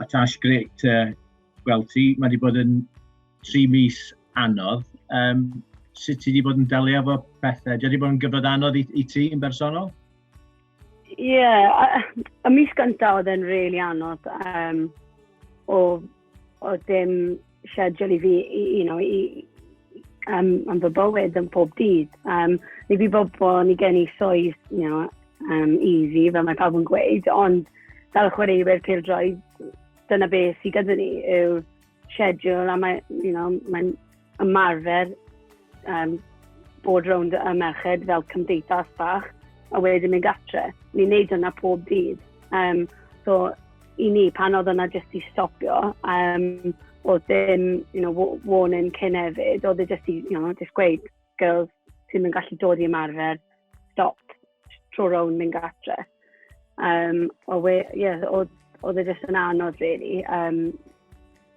A Tash, great to gweld ti. Mae wedi bod yn tri mis anodd. Um, sut ti wedi bod yn delio efo pethau? Di wedi bod yn gyfod anodd i, i ti yn bersonol? Ie, yeah, y mis gyntaf oedd e'n really anodd. Um, o O dim siedul i fi, i, you know, i, um, am fy bywyd yn pob dydd. Um, ni fi bob bo, ni gen i swydd, you know, um, easy, fel mae pawb yn gweud, ond fel chwaraewyr pildroed, dyna beth sydd gyda ni yw schedule a mae, you know, mae'n ymarfer um, bod rownd y merched fel cymdeithas bach, a wedyn mynd gatre. Ni'n neud yna pob dydd. Um, so, i ni, pan oedd yna jyst i stopio, um, oedd ddim, you know, warning cyn hefyd, oedd e jyst i, you know, just gweud, girls, ti'n mynd gallu dod i ymarfer, stop. tro rown mynd gatre. Um, o we, yeah, oedd, oedd e jyst yn anodd, really, um,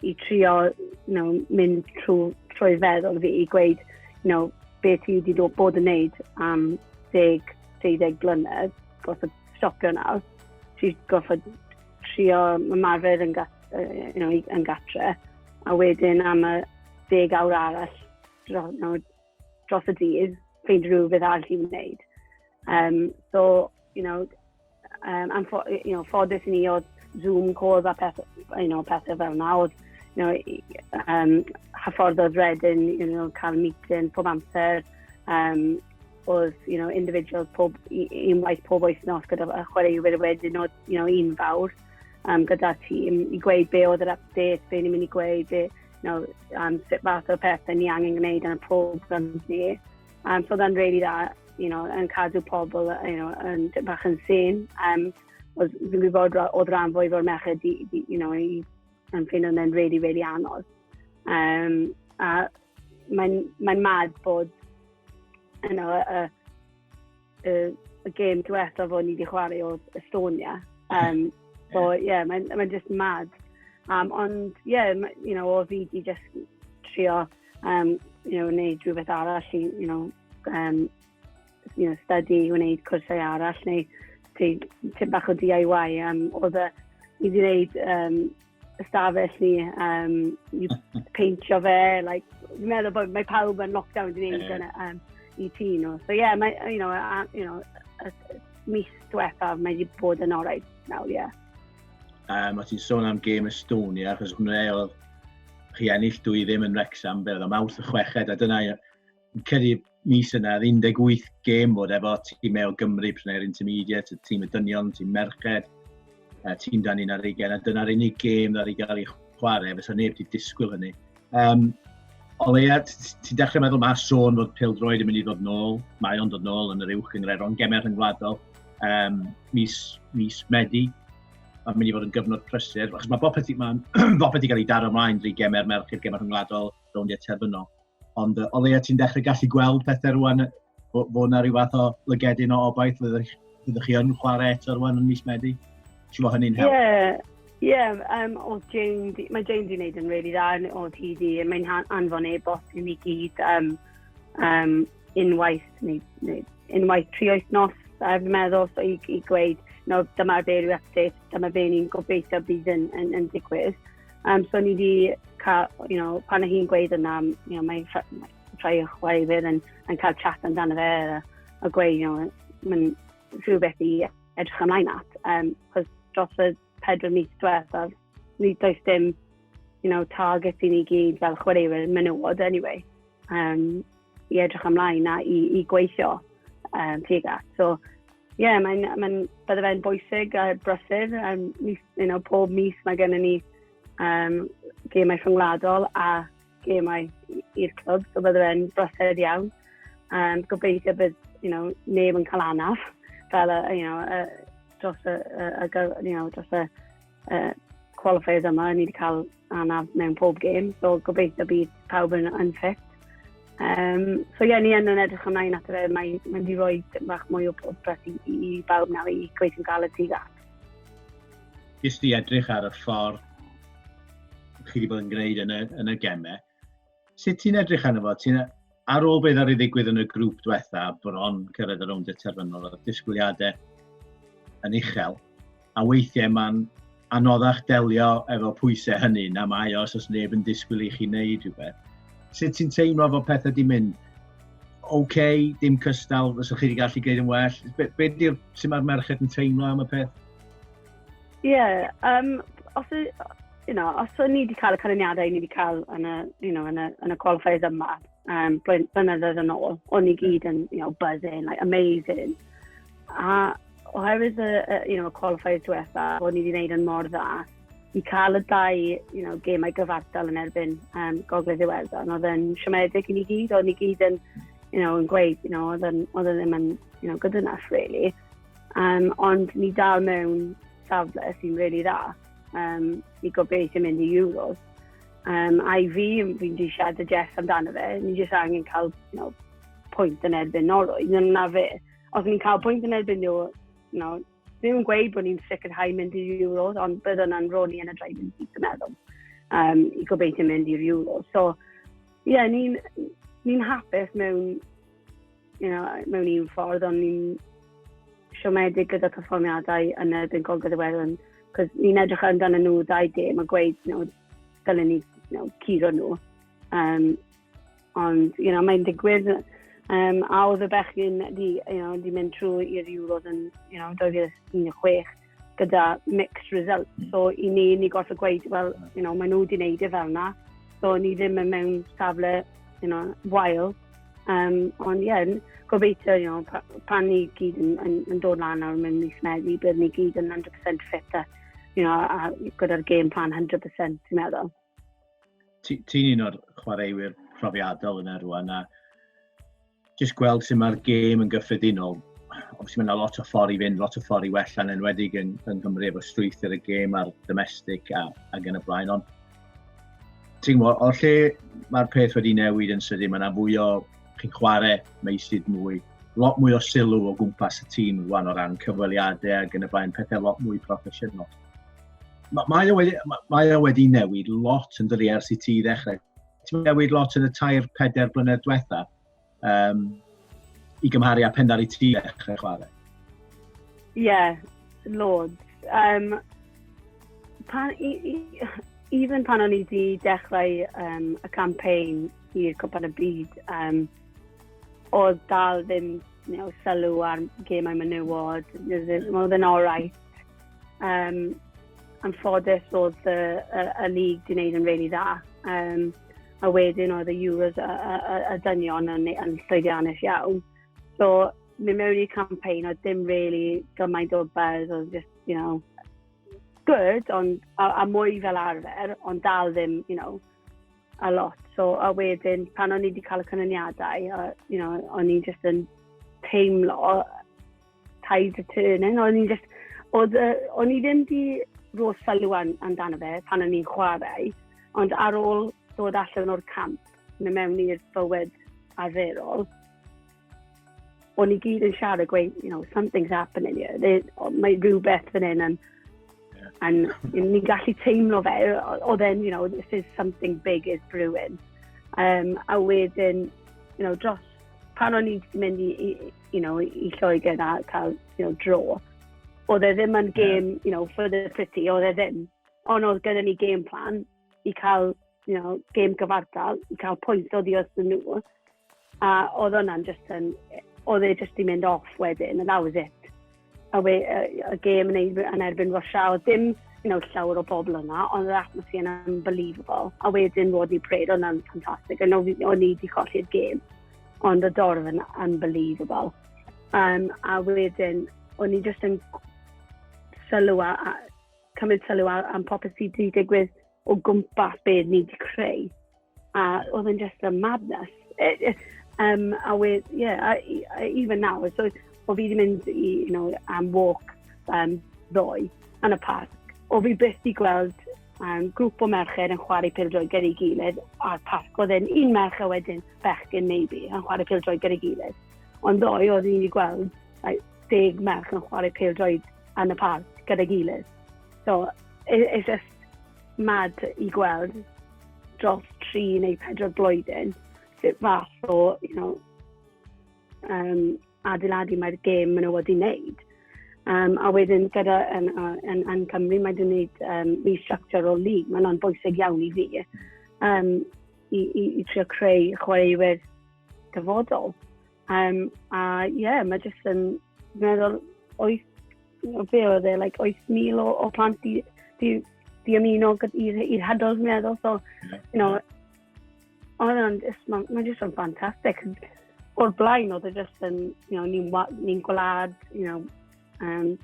i trio you know, mynd trwy, trwy feddwl fi i gweud you know, be ti wedi dod bod yn neud am deg, deuddeg blynedd, goffod stopio nawr. Ti goffod trio ymarfer yn, gat, uh, you know, yn gatre, a wedyn am y deg awr arall, you know, dros y dydd, ffeid rhywbeth all i wneud. Um, so, you know, um, am ffo, you know, ffodus i ni oedd Zoom calls a peth, you know, pethau fel yna, oedd you know, um, hyffordd oedd redyn, you know, cael meeting pob amser, um, oedd, you know, individuals pob, un waith pob wythnos gyda chwaraewyr wedyn oedd, you know, un fawr um, gyda'r tîm i gweud be oedd yr update, be ni'n mynd i gweud, be, you know, um, sut fath o pethau ni angen gwneud yn y pob gynt ni. Um, so then really dda, you know, yn cadw pobl you know, yn tip bach yn syn. Um, os fi'n gwybod oedd rhan fwy o'r merched di, di, you know, i, yn ffyn o'n really, really anodd. Um, a mae'n mae mad bod you know, y, y, y game diwetha fo ni wedi chwarae o Estonia. Um, so, ie, yeah, mae'n ma just mad. Um, ond, ie, yeah, you know, o fi di just trio, um, you know, wneud rhywbeth arall i, you know, um, you know, study, wneud cwrsau arall, neu ti'n bach o DIY. Um, oedd y, i wneud um, ystafell ni um, i peintio fe. Like, fi'n meddwl bod mae pawb yn lockdown wedi gwneud yeah. yn, um, i ti nhw. So yeah, mae, you know, a, you know, a, a, mis diwethaf mae wedi bod yn orau nawr, ie. Yeah. Um, a ti'n sôn am Game Estonia, achos hwnna oedd chi ennill dwy ddim yn Wrexham, fe oedd am awth y chweched, a dyna Fi'n credu mis yna, 18 gêm bod efo tîm e o Gymru, prynau'r intermediate, tîm y dynion, tîm merched, a tîm dan un ar eigen, a dyna'r unig gêm ddod i gael ei chwarae, fysa neb wedi disgwyl hynny. Um, o leia, ti'n dechrau meddwl mae sôn fod pil droed yn mynd i ddod nôl, mae o'n dod nôl yn yr uwch yng Ngreron, gemau rhyngwladol, um, mis, mis Medi, mae'n mynd i fod yn gyfnod prysur, achos mae bopeth wedi cael ei daro ymlaen drwy gemau'r merched, gemau rhyngwladol, rowndiau terfynol. Ond uh, o leia ti'n dechrau gallu gweld pethau rwan, bod fo yna rhyw fath o lygedyn o obaith, fyddwch, fyddwch chi yn chwarae eto rwan yn mis Medi? Ti'n fawr hynny'n help? Ie, Ie, yeah, um, o Jane, mae Jane di wneud yn rili really dda yn o TD. Mae'n anfon e-bost i ni gyd um, um, unwaith, neu, neu unwaith tri wythnos, a fi'n meddwl, so i, i gweud, no, dyma fe rhyw update, dyma fe ni'n gobeithio bydd yn, yn, yn digwydd. Um, so ni wedi cael, you know, pan hi'n gweud yna, you know, mae rhai o'ch chwaifydd yn, yn cael chat amdano fe a, a gweud, you know, mae'n rhywbeth i edrych ymlaen at. Um, cos dros y pedwar mis diwethaf, ni does dim, you know, target i ni gyd fel chwaraewyr menywod anyway. Um, i edrych ymlaen a i, i gweithio um, tuag at. So, ie, yeah, mae'n, mae bydde fe'n bwysig a brysur. Um, mis, you know, pob mis mae gennym ni um, gemau rhyngwladol a gemau i'r clwb, so bydde fe'n brysur iawn. Um, gobeithio bydd you know, neb yn cael anaf fel y, you know, y, dros y, y, y, you know, dros y uh, qualifiers yma, ni wedi cael anaf mewn pob gêm, so gobeithio bydd pawb yn, yn ffit. Um, so ie, yeah, ni yn yn edrych ymlaen at y mae mae wedi rhoi bach mwy o popeth i, i, i bawb nawr i gweithio gael y tig at. Ys di edrych ar y ffordd chi wedi bod yn gwneud yn y, yn y gemau, sut ti'n edrych arno fo? Ti'n ar ôl beth ar ei ddigwydd yn y grŵp diwetha, bron cyrraedd y rownd y terfynol, y disgwyliadau yn uchel, a weithiau mae'n anoddach delio efo pwysau hynny na mae os oes neb yn disgwyl i chi wneud rhywbeth. Sut ti'n teimlo fod pethau di mynd? Oce, okay, dim cystal, fysa chi wedi gallu gwneud yn well. Be, be di'r, sy'n mae'r merched yn teimlo am y peth? Ie, yeah, um, os, y, you know, os o'n ni wedi cael y canlyniadau o'n ni wedi cael yn y, you know, yn y, yn y qualifiers yma, um, blynyddoedd yn ôl, o'n ni gyd yn, you know, buzzing, like, amazing. A oherwydd y, y you know, qualifiers diwetha, o'n ni wedi gwneud yn mor dda, i cael y dau you know, gemau gyfartal yn erbyn um, Gogledd Iwerddon. Oedd yn siomedig i ni gyd, o'n ni gyd yn, you know, yn gweud, you know, oedd yn, oedd yn ddim yn you know, good enough, really. Um, ond ni dal mewn safle sy'n really dda. Um, ni gobeithio mynd i Euros. Um, I fi, fi'n di siarad y Jeff amdano fe, ni jyst angen cael you know, pwynt yn erbyn Norwy. Dyna fe. Os ni'n cael pwynt yn erbyn nhw, you know, ddim yn gweud bod ni'n sicrhau mynd i'r Euros, ond bydd yna'n roni yn y drefn sydd yn meddwl um, i gobeithio mynd i'r Euros. So, ie, yeah, ni'n ni hapus mewn you know, mewn un ffordd, ond ni'n siomedig gyda perfformiadau yn y Byn Gogledd y Werwn. Cos ni'n edrych ar amdano nhw ddau gêm a gweud, you know, dylen ni you know, curo nhw. Um, ond, you know, mae'n digwydd. Um, a oedd y bechgyn di, you know, di mynd trwy i'r Euros yn you know, 2016. gyda mixed results. Mm. So i ni, ni gorfod gweud, wel, you know, maen nhw wedi wneud e fel na. So ni ddim yn mewn safle, you know, wael. Um, ond ie, yeah, gobeithio, you know, pa, pan ni gyd yn, yn, yn dod lan ar mewn mis Medi, bydd ni gyd yn 100% fit a, you know, a, gyda'r game plan 100%, ti'n meddwl. Ti'n un o'r chwaraewyr profiadol yna rwan, a jyst gweld sut mae'r gêm yn gyffredinol. Obviously mae yna lot o ffordd i fynd, lot o ffordd i wella yn enwedig yn, yng Nghymru efo strwythyr y gêm a'r domestig a, a gen y blaen. Ond ti'n gwybod, o'r lle mae'r peth wedi newid yn sydyn, mae yna fwy o chi'n chwarae meisydd mwy, lot mwy o sylw o gwmpas y tîm rwan o ran cyfweliadau a gen y blaen pethau lot mwy proffesiynol. Mae, mae, o wedi, mae o wedi newid lot yn dydi ers i ti ddechrau Ti'n newid lot yn y tair, peder blynedd diwetha um, i gymharu â pen ar ei ti ddechrau chwarae? Ie, yeah, loads. Um, pan, i, i, even pan o'n i wedi dechrau um, y campaign i'r Cwpan y Byd, um, oedd dal ddim you know, sylw ar gemau menywod, oedd yn orau. Um, am ffodus oedd y, y, y lig di wneud yn really dda. Um, a wedyn oedd y Euros a, a, a, a dynion yn, yn llwyddiannus iawn. So, mi mewn i'r campaign, oedd dim really gymaint o buzz, oedd just, you know, good, ond, a, a mwy fel arfer, ond dal ddim, you know, a lot. So, a wedyn, pan o'n i wedi cael y canlyniadau, you know, o'n i just yn teimlo tide turning, o'n i'n just, oedd, uh, o'n i ddim di rôl sylw amdano fe pan o'n i'n chwarae, ond ar ôl dod allan o'r camp, neu mewn i'r bywyd arferol, o'n i gyd yn siarad gweud, you know, something's happening here. They, mae rhywbeth fan hyn yn... And ni'n gallu teimlo fe, oedd e'n, you know, this is something big is brewing. Um, a wedyn, you know, dros pan o'n i'n mynd i, i, you know, i Lloegr a cael you know, dro. Oedd e ddim yn game, yeah. you know, for the pretty, oedd e ddim. Ond oedd gyda ni game plan i cael, you know, game gyfartal, i cael pwynt o ddios yn nhw. A oedd hwnna'n just yn, oedd e just i mynd off wedyn, and that was it. a we, uh, y gêm yn, yn erbyn Russia, oedd dim you know, llawer o bobl yna, ond yr atmosphere yn unbelievable. A wedyn Rodney Prade, o'n yn ffantastig, a o'n i wedi colli'r gêm. Ond y dorf yn unbelievable. Um, a wedyn, o'n i jyst yn sylw a, a cymryd sylw am popeth sydd wedi digwydd o gwmpas beth ni wedi creu. A oedd yn just a madness. It, it, um, a we, yeah, I, I, even now, so, o fi wedi mynd i, you know, am walk um, ddoe yn y parc, o fi byth di gweld um, grŵp o merched yn chwarae pildroed gyda'i gilydd a'r parc. Oedd e'n un merch a wedyn bechgyn maybe yn chwarae pildroed gyda'i gilydd. Ond ddoe oedd ni'n gweld like, deg merch yn chwarae pildroed yn y parc gyda'i gilydd. So, it, it's just, Mad i gweld dros tri neu pedwar blwyddyn sut fath o, you know, um, adeiladu mae'r gêm maen nhw wedi wneud. Um, a wedyn gyda yn, yn, yn Cymru mae wedi wneud um, restructure o lig, mae hwnna'n bwysig iawn i fi. Um, i, i, i trio creu chwaraewyr dyfodol. Um, a ie, yeah, mae jyst yn meddwl oes, be oedd e, like, oes mil o, o plant di, di, di ymuno i'r hadol fi'n meddwl. So, you know, oedd yn, mae ma jyst yn ffantastig. O'r blaen oedd e jyst yn, you know, ni'n ni gwlad, you know, Um,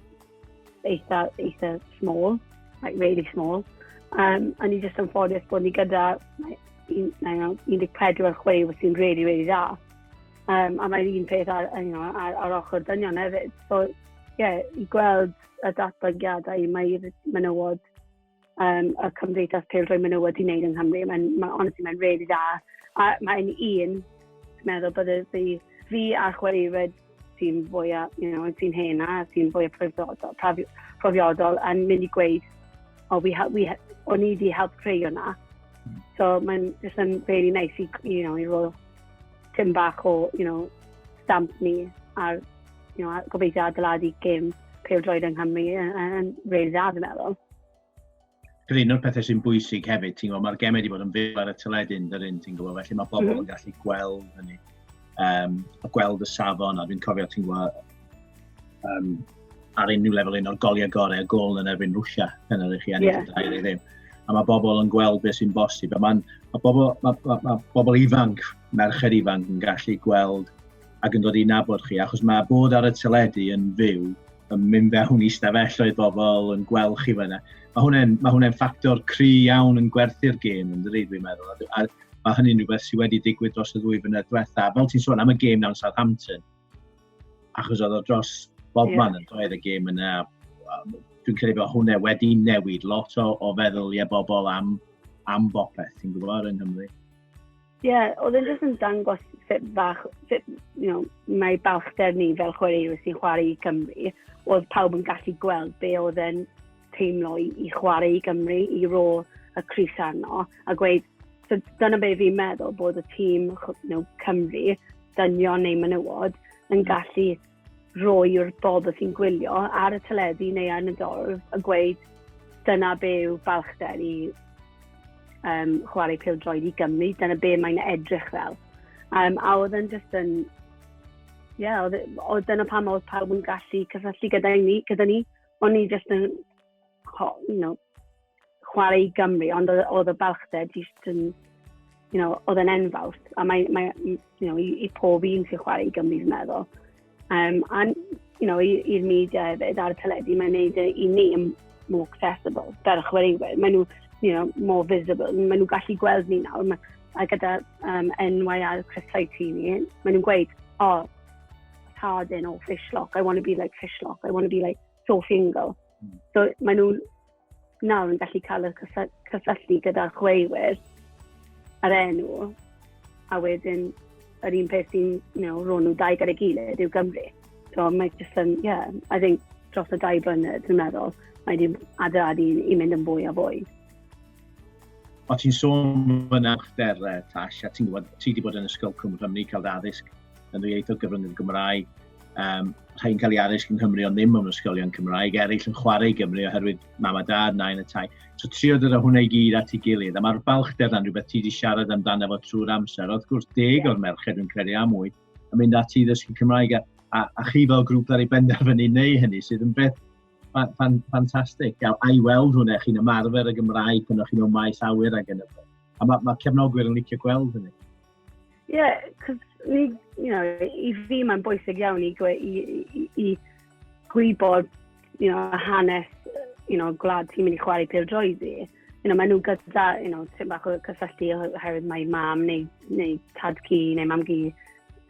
eitha, eitha small, like really small. Um, a ni jyst yn ffodus bod ni gyda like, 14 ar chwaraewyr sy'n really, really dda. Um, a mae'n un peth ar, you know, ar, ar ochr dynion hefyd. So, ie, yeah, i gweld y datblygiadau, mae'r menywod um, y Cymdeithas Peldroi Menywod wedi wneud yng Nghymru. Mae'n, ma, honestly, mae'n really dda. A mae'n un, dwi'n meddwl, bydde fi, fi a chwaraewyr sy'n fwyaf, you know, sy'n hen a sy'n fwyaf profiodol, profiodol yn mynd i gweud, o, oh, we, we, o'n i wedi help creu hwnna. So mae'n just yn really nice i, you know, i roi Tim bach o, you know, stamp ni ar you know, gobeithio adeiladu gêm pêl-droed yng Nghymru yn reil dda, fi'n meddwl. Dwi'n un o'r pethau sy'n bwysig hefyd, ti'n gwybod, mae'r gemau wedi bod yn fyw ar y tyledyn, dyn un, ti'n gwybod, felly mae pobl mm -hmm. yn gallu gweld hynny, um, a gweld y safon, a dwi'n cofio, ti'n gwybod, um, ar unrhyw lefel un o'r goliau gorau, y gol yn erbyn Rwysia, pen ar eich i ennill yeah. y ddim. A mae bobl yn gweld beth sy'n bosib. A mae ma bobl, ma, ma, ma bobl ifanc, merched ifanc yn gallu gweld ac yn dod i nabod chi, achos mae bod ar y teledu yn fyw, yn mynd fewn i stafelloedd bobl, yn gweld chi fyna. Mae hwnna'n ma hwnna ffactor cry iawn yn gwerthu'r gêm, yn dweud, dwi'n meddwl. A, a mae hynny'n rhywbeth sydd wedi digwydd dros y ddwy fynedd diwetha. Fel ti'n sôn am y gêm nawn Southampton, achos oedd o dros bob yeah. man yn doedd y gêm yna. Dwi'n credu bod hwnna wedi newid lot o, o feddwl i e bobl am, am bopeth, ti'n gwybod, yng Nghymru. Ie, yeah, oedd e'n jyst yn dangos sut fach, sut, you know, mae balchder ni fel chwaraewyr sy'n chwarae i Cymru, oedd pawb yn gallu gweld be oedd e'n teimlo i, i chwarae i Gymru, i rôl y Cris arno, a gweud, so dyna be fi'n meddwl bod y tîm you know, Cymru, dynion neu menywod, yn hmm. gallu roi'r bobl sy'n gwylio ar y teledu neu ar y dorf a gweud dyna be yw balchder i um, chwarae pil droed i Gymru, dyna be mae'n edrych fel. Um, a oedd yn just yn... Ie, yeah, oedd e, dyna pam oedd pawb yn gallu cysylltu gyda ni, gyda ni o'n i jyst yn, you know, chwarae i Gymru, ond oedd y balchder jyst yn, you know, oedd yn enfawr. A mae, mae you know, i, i pob un sy'n chwarae i Gymru, fi'n meddwl. Um, a, you know, i'r media hefyd, ar y teledu, mae'n neud e i ni yn more accessible, fel y chwaraewyr. Mae nhw, you know, more visible. Mae nhw gallu gweld ni nawr. Mae, a gyda um, NYR Chris Saitini, mae nhw'n gweud, o, oh, Tardin o Fishlock, I want to be like Fishlock, I want to be like Sophie Ingle. Mm. So mae nhw nawr yn gallu cael y cysylltu gyda chweiwyr ar enw, a wedyn yr un peth sy'n you know, rhoi nhw dau gyda'i gilydd yw Gymru. So mae just yn, yeah, I think dros y dau blynedd, dwi'n meddwl, mae wedi adeiladu i mynd yn fwy a fwy. O ti'n sôn fy nawchder, Tash, a ti'n gwybod, ti wedi bod yn ysgol Cwm Cymru, cael dy addysg yn yr ieithoedd gyfryngau Gymraeg. Um, rhain cael ei addysg yng Nghymru ond ddim yn ysgolion Cymraeg, eraill yn chwarae i Gymru oherwydd mam a dad, nain y tai. So trio dod o hwnna i gyd at ei gilydd, a mae'r balchder yna'n rhywbeth ti wedi siarad amdano fo trwy'r amser. Wrth gwrs, deg o'r merched yn credu am mwy, yn mynd ati i ddysgu Cymraeg, a, a, a chi fel grŵp ar ei benderfynu neu hynny, sydd yn beth ffantastig. Fan, fan, a i weld hwnna, chi'n ymarfer y Gymraeg pan o'ch chi'n o maes awyr ag yn y A mae ma cefnogwyr yn licio gweld hynny. Yeah, cos ni, you know, i fi mae'n bwysig iawn i, gwe, i, i, i gwybod, you know, hanes, you know, gwlad ti'n mynd i chwarae pêl droi ddi. You know, maen nhw gyda, you know, ti'n bach o cysylltu oherwydd mae mam neu, neu tad cu neu mam gi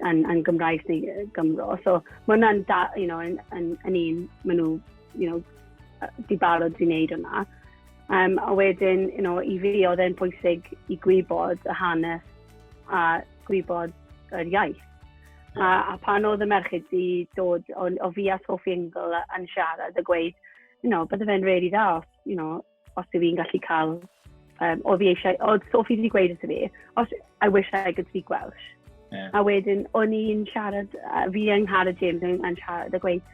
yn, yn Gymraes neu Gymro. So, mae hwnna'n, da, you know, yn, yn, yn un, maen nhw, you know, di barod i wneud hwnna. Um, a wedyn, you know, i fi, oedd e'n pwysig i gwybod y hanes a gwybod yr iaith. A, a pan oedd y merched di dod o, o fi a Sophie Ingle yn siarad a gweud, you know, bydde fe'n really dda os, you know, os yw fi'n gallu cael, um, o fi eisiau, oedd Sophie wedi gweud wrth fi, os I wish I could speak Welsh. Yeah. A wedyn, o'n i'n siarad, uh, fi yng Nghara James yn, yn siarad a gweud,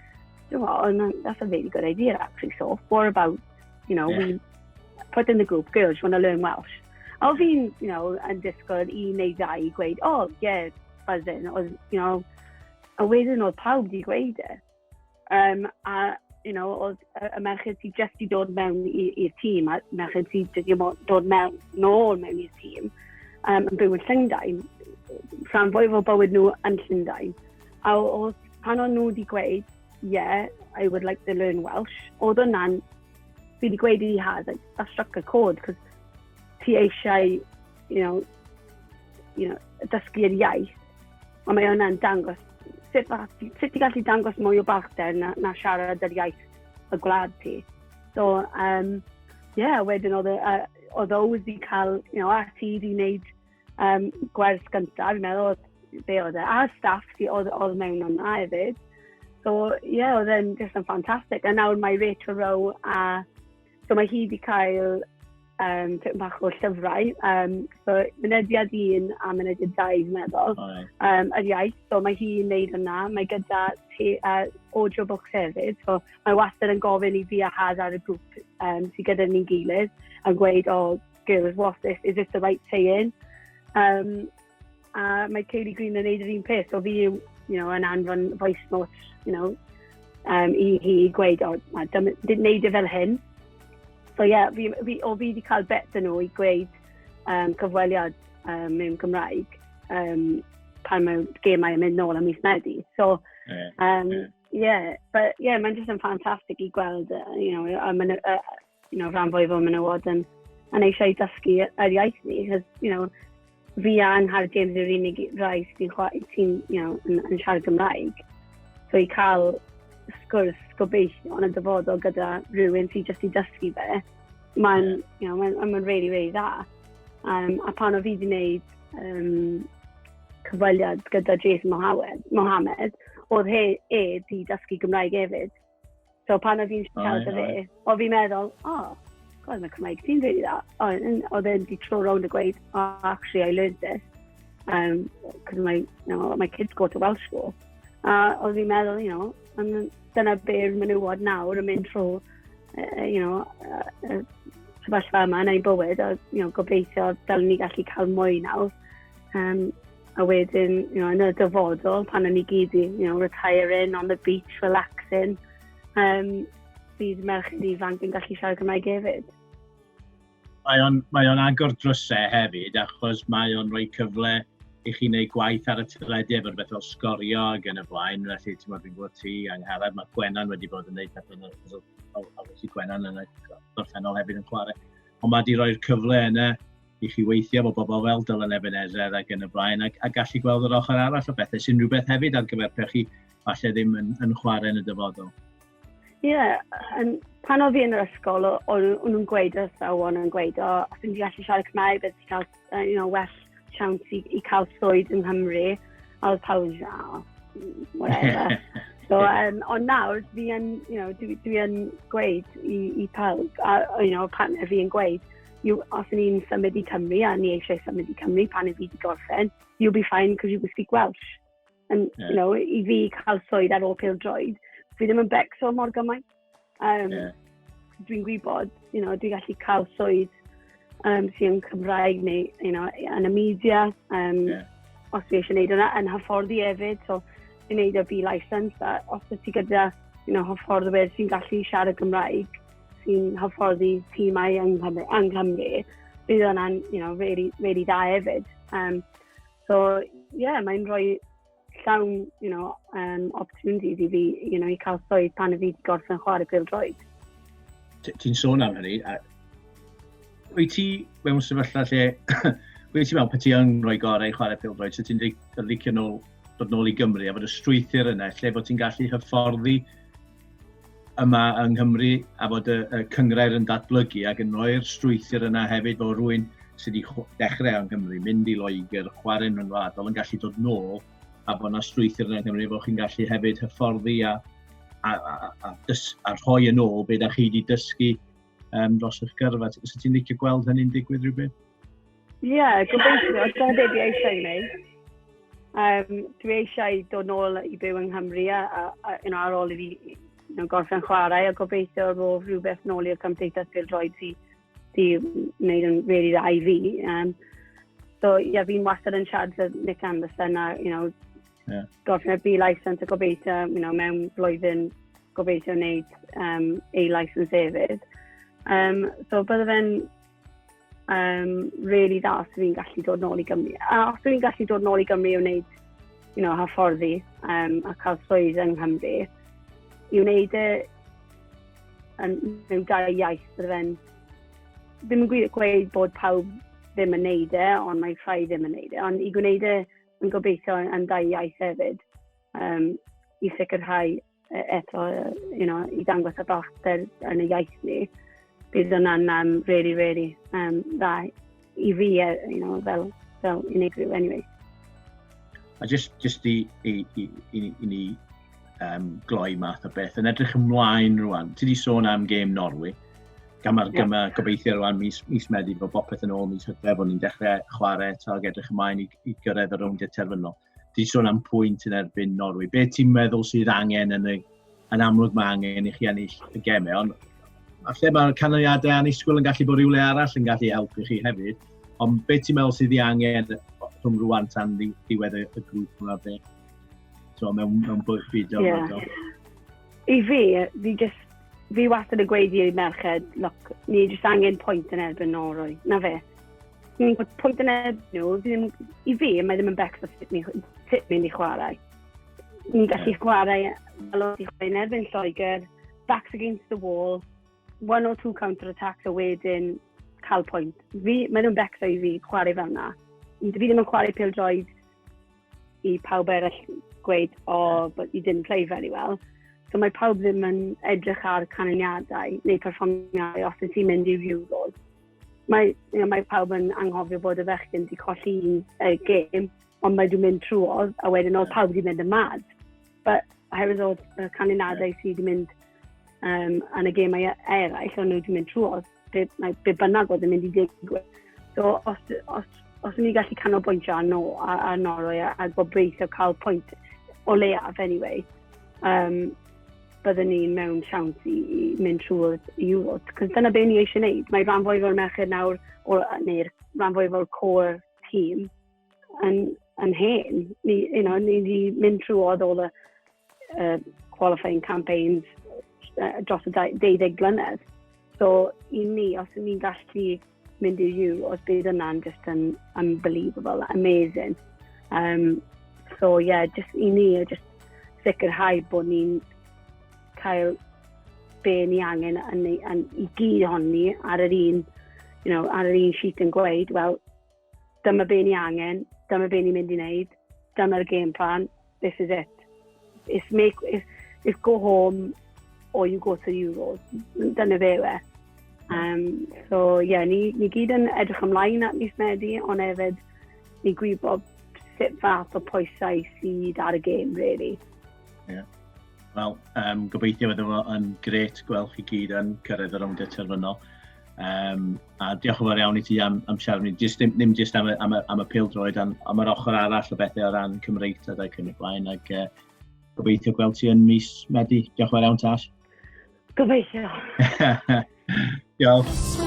you know, that's a really good idea actually, so what about You know, yeah. we put in the group, girls, you want to learn Welsh? A o fi'n, you know, yn disgwyl i neu ddau i gweud, oh, yeah, buzzing, or, you know, a wedyn oedd pawb di gweud e. Um, a, you know, oedd y merched sydd jyst i dod mewn i'r tîm, a merched sydd jyst i dod mewn nôl mewn i'r tîm, um, yn byw yn Llundain, rhan fwy o bywyd nhw yn Llundain. A oedd pan o'n nhw wedi gweud, yeah, I would like to learn Welsh. Oedd hwnna'n, fi wedi gweud i Haz, like, that struck a chord, cos ti eisiau, you know, you know, dysgu'r iaith, ond mae hwnna'n dangos, sut, sut ti gallu dangos mwy o balchder na, na siarad yr iaith y gwlad ti. So, um, yeah, wedyn oedd, uh, oedd Ows wedi cael, you know, a ti wedi wneud um, gwers gyntaf, fi'n meddwl, oedd be oedd e, a staff sydd oedd, oedd mewn yna hefyd. So, ie, yeah, oedd e'n just yn ffantastig. A nawr mae Rachel Rowe a... So mae hi wedi cael um, tipyn bach o llyfrau. Um, so, mynediad un a mynediad dau, fi'n meddwl, um, yr iaith. So, mae hi'n neud yna. Mae gyda te, uh, audio books hefyd. So, mae wastad yn gofyn i fi a Haz ar y grŵp um, sydd gyda ni'n gilydd yn gweud, o, oh, girls, what this, is it the right saying? Um, a mae Kaylee Green yn neud yr un peth, o fi yw, you know, yn anfon voice notes, you know, um, i hi gweud, o, oh, dim, dim neud e fel hyn. So ie, yeah, fi, fi, o fi wedi cael bet yn nhw i gweud um, cyfweliad um, mewn Gymraeg um, pan mae gemau yn mynd nôl am mis Medi. So, um, yeah, but yeah, mae'n just yn ffantastig i gweld, uh, you know, um, uh, you know, rhan fwyaf o menywod yn, yn eisiau dysgu yr iaith ni, cos, you know, fi a Angharad James yw'r unig rai sy'n ti, you know, yn, yn siarad Gymraeg. So i cael sgwrs gobeithio yn y dyfodol gyda rhywun sy'n jyst i dysgu fe, mae'n, you know, mae'n, mae'n really, really dda. Um, a pan o fi wedi gwneud um, cyfweliad gyda Jason Mohammed, Mohammed oedd he, e di dysgu Gymraeg hefyd. So pan oedd hi'n siarad â fi, o fi'n meddwl, o, oh, god, mae Cymraeg ti'n rili dda. Oedd e'n di tro rownd y gweud, oh, actually, I learned this. Um, cos my, you know, my kids go to Welsh school. A oedd fi'n meddwl, you know, and dyna be'r menywod nawr yn mynd trwy, uh, you know, uh, sefyllfa yma yn ei bywyd, a you know, gobeithio dal ni gallu cael mwy nawr. Um, A wedyn, you know, yn y dyfodol, pan o'n i gyd i, you know, retiring on the beach, relaxing, um, bydd merched ifanc yn gallu siarad Cymraeg hefyd. Mae o'n, mae on agor drysau hefyd, achos mae o'n rhoi cyfle i chi wneud gwaith ar y teledu efo'r beth fel sgorio ac yn y blaen, felly ti'n meddwl fi'n gwybod ti, Angharad, mae Gwenan wedi bod yn gwneud pethau yn y a wedi Gwenan yn y gorffennol hefyd yn chwarae. Ond mae wedi rhoi'r cyfle yna i chi weithio efo bobl fel Dylan Ebenezer ac yn y blaen, ac, a gallu gweld yr ochr arall o bethau, sy'n rhywbeth hefyd ar gyfer pe chi falle ddim yn, yn chwarae yn y dyfodol. Ie, yeah, um, pan oedd fi yn yr ysgol, o'n nhw'n gweud yr athrawon yn gweud, o, os ti'n gallu siarad Cymraeg, beth ti'n cael, uh, you know, well chance i, i cael swydd yng Nghymru. A oedd pawb yn siarad, oh, whatever. so, um, ond nawr, fi yn, you know, dwi, dwi yn gweud i, i pawb, a, you know, partner fi yn gweud, you, os yn ni'n symud i Cymru a ni eisiau symud i Cymru pan i fi wedi gorffen, you'll be fine because you will speak Welsh. And, yeah. you know, i fi cael swydd ar ôl pil droed, fi ddim yn becso mor gymaint. Um, yeah. Dwi'n gwybod, you know, dwi'n gallu cael swydd um, sy'n Cymraeg neu, you know, yn y media, um, yeah. os fi eisiau gwneud yna, yn hyfforddi hefyd, so, i wneud y B-license, a os ydych chi gyda, you know, hyfforddwyr sy'n gallu siarad Gymraeg, sy'n hyfforddi tîmau yng Nghymru, yng Nghymru bydd yna'n you know, really, really dda hefyd. Um, so, ie, yeah, mae'n rhoi llawn you know, um, opportunities i fi you know, i cael swydd pan y fi wedi gorffen chwarae pil droed. Ti'n sôn am hynny, a wyt ti mewn sefyllfa lle, wyt ti mewn pe ti yn rhoi gorau i chwarae pil droed, so ti'n licio nôl, dod nôl i Gymru a bod y strwythyr yna, lle bod ti'n gallu hyfforddi yma yng Nghymru a bod y, y cyngrair yn datblygu ac yn rhoi'r strwythyr yna hefyd o rwy'n sydd wedi dechrau yng Nghymru, mynd i Loegr, chwarae'n rhyngwladol yn gallu dod nôl a bod yna strwythyr yna yng Nghymru bod chi'n gallu hefyd hyfforddi a, a, a, a, dys, a rhoi yn ôl beth a chi wedi dysgu um, dros eich gyrfa. Os ti'n licio gweld hynny'n digwydd rhywbeth? Ie, yeah, gobeithio, os dyna beth i eisiau gwneud. Um, dwi eisiau dod nôl i byw yng Nghymru a, a, a you know, ar ôl i fi you know, gorffen chwarae a gobeithio rof rhywbeth nôl i'r cymdeithas byr droed sy'n sy wneud yn really dda i fi. Um, so, ie, yeah, fi'n wastad yn siarad fy Nick Anderson a, you know, yeah. gorffen y B-license a gobeithio, you know, mewn blwyddyn gobeithio wneud um, A-license hefyd. Um, so, bydde fe'n um, really dda os fi'n gallu dod nôl i Gymru. A os fi'n gallu dod nôl i Gymru i wneud, you know, hyfforddi um, a cael swydd yng Nghymru, i wneud y yn, mewn dau iaith, bydd fe'n ddim yn gweud bod pawb ddim yn neud e, ond mae'n rhai ddim yn neud e, ond i gwneud e yn gobeithio yn dau iaith hefyd, um, i sicrhau e, eto, you know, i dangos y balchder yn y iaith ni, bydd hwnna'n um, really, really um, dda i fi, e, you know, fel, fel unigryw anyway. A just, just i, i, i, i, i ni um, gloi math o beth, yn edrych ymlaen rwan, ti di sôn am gêm Norwy, gan mae'r yeah. ma gobeithio rwan mis, mis Medi bod bopeth yn ôl mis hydref o'n i'n dechrau chwarae eto ac edrych ymlaen i, i gyrraedd y rownd terfynol. Ti sôn am pwynt yn erbyn Norwy. Be ti'n meddwl sydd angen yn, y, yn amlwg mae angen i chi ennill y gemau, ond a lle mae'r canlyniadau annisgwyl yn gallu bod rhywle arall yn gallu helpu chi hefyd. Ond be ti'n meddwl sydd i angen rhwng rwan tan ddiwedd y, y grŵp yma fe? So, mewn, mewn byd o yeah. I fi, fi jyst, fi wastad yn gweud i'r merched, look, ni jyst angen pwynt yn erbyn Norwy, na fe. Ni'n gwybod pwynt yn erbyn nhw, ddim, i fi, mae ddim yn becso sut ni'n ni mynd i chwarae. Ni'n gallu yeah. chwarae fel oedd i chwarae yn erbyn Lloegr, backs against the wall, one or two counter-attacks a wedyn cael pwynt. Fi, mae ddim yn becso i fi chwarae fel yna. Fi ddim yn chwarae pil droed i pawb eraill gweud, o, oh, but you didn't play very well. So mae pawb ddim yn edrych ar canlyniadau neu perfformiadau os ydych chi'n mynd i'r Euros. Mae, you know, mae pawb yn anghofio bod y fechgyn wedi colli un uh, gêm, ond mae wedi mynd trwodd, a wedyn oedd pawb wedi mynd yn mad. But oherwydd oedd y canlyniadau sydd wedi mynd um, yn y gemau eraill, ond nhw wedi mynd trwodd. be, mae be bynnag oedd yn mynd i digwydd. So, os, os, os ni'n gallu canolbwyntio ar, no, ar, ar Norwy a, a gobeithio cael pwynt o leiaf, anyway, um, byddwn ni mewn siawns i, i mynd trwy'r Euros. Cos dyna be ni eisiau gwneud. Mae rhan fwy o'r merched nawr, neu'r rhan fwy o'r core team, yn, yn hen. Ni, you know, ni wedi mynd trwy oedd all y uh, qualifying campaigns uh, dros y 20 blynedd. So, i ni, os ydyn ni'n gallu mynd i you, os bydd yna'n just yn unbelievable, amazing. Um, so, yeah, just i ni, just sicrhau bod ni'n cael be ni angen yn, yn, i gyd honni ar yr un, you know, ar yr un sheet yn gweud, wel, dyma be ni angen, dyma be ni'n mynd i wneud, dyma'r game plan, this is it. It's, make, it's, it's go home or you go to the Euros. Dyna fe we. Um, so, ie, yeah, ni, ni gyd yn edrych ymlaen at mis Medi, ond hefyd ni gwybod sut fath o pwysau sydd ar y gêm, really. Yeah. Wel, um, gobeithio fod efo yn gret gweld chi gyd yn cyrraedd yr ymdyd terfynol. Um, A diolch yn fawr iawn i ti am, am siarad ni, just, ddim, ddim just am y, am y, am y pil droed, ond am yr ochr arall o bethau o ran Cymreictod ac yn y blaen, ac uh, gobeithio gweld ti yn mis Medi. Diolch yn fawr iawn, Tash. Gobeithio. Diolch.